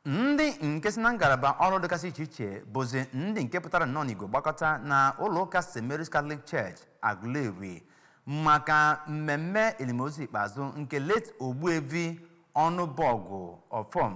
ndị nke si na ngalaba ọrụ dịgasị iche iche bụzi ndị nke pụtara nnọọ n'igwe gbakọta na ụlọ ụka st mary's catholic church aguleri maka mmemme elimozu ikpeazụ nke late ogbuevi ọnụbọgụ ọfọm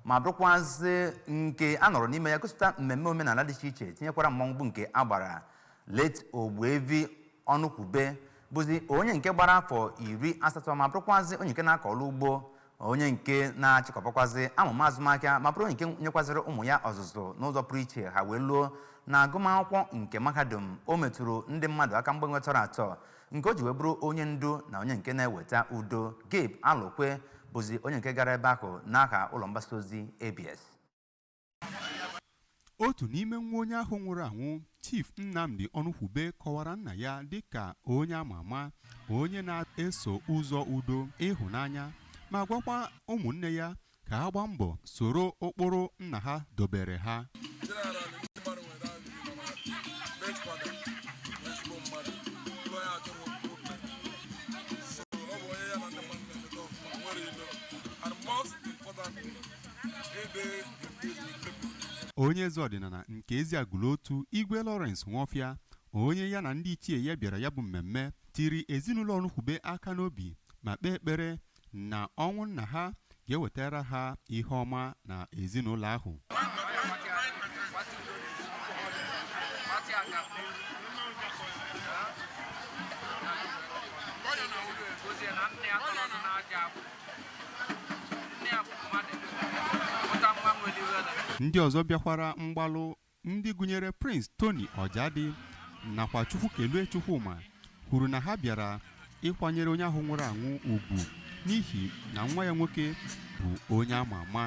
ma bụrụkwazị nke a nọrọ n'ime ya gosipụta mmemme omenala dị iche iche tinyekwara mmọnwụ bụ nke a gbara late ogbuevi ọnụkwube bụzi onye nke gbara afọ iri asatọ ma bụrụkwazị onye nke na-akọ ọrụ ugbo onye nke na-achịkọbakwazi amụma azụmahịa ma bụrụ onye nke nyekwazịrị ụmụ ya ọzụzụ n'ụzọ pụrụ iche ha wee luo na agụmakwụkwọ nke mahadum o metụrụ ndị mmadụ aka mgbanwe tọrọ atọ nke o ji wee bụrụ onye ndu na onye nke na-eweta udo Gabe Alokwe bụzi onye nke gara ebe ahụ n'aha ụlọ mgbasa ozi ABS otu n'ime nwa onye ahụ nwụrụ anwụ chief nnamdi ọnụkwube kọwara nna ya dịka onye ama ama onye na-eso ụzọ udo ịhụnanya ma gwakwa ụmụnne ya ka ha gbaa mbọ soro ụkpụrụ nna ha dobere ha general ndị mmadụ nwere ahụ ndị nọ na late father bụ ezigbo mmadụ ụlọ ya adịrọ problem so ọ bụ onye ya na ndị mmadụ na-emeta ọfụma nwerọ ilo and most importantly onye eze ọdịnala nke Eziagụlụ Otu Igwe Lawrence Nwofia onye ya na ndị ichie ya bịara ya bụ mmemme tiri ezinụlọ Ọnụkwube aka n'obi ma kpee ekpere na ọnwụ nna ha ga-ewetara ha ihe ọma na ezinụlọ ahụ ndị ọzọ bịakwara mgbalụ ndị gụnyere Prince Tony Ọjadị nakwa Chukwukelue Chukwuma kwuru na ha bịara ịkwanyere onye ahụ nwụrụ anwụ ugwu n'ihi na nwa ya nwoke bụ onye ama ama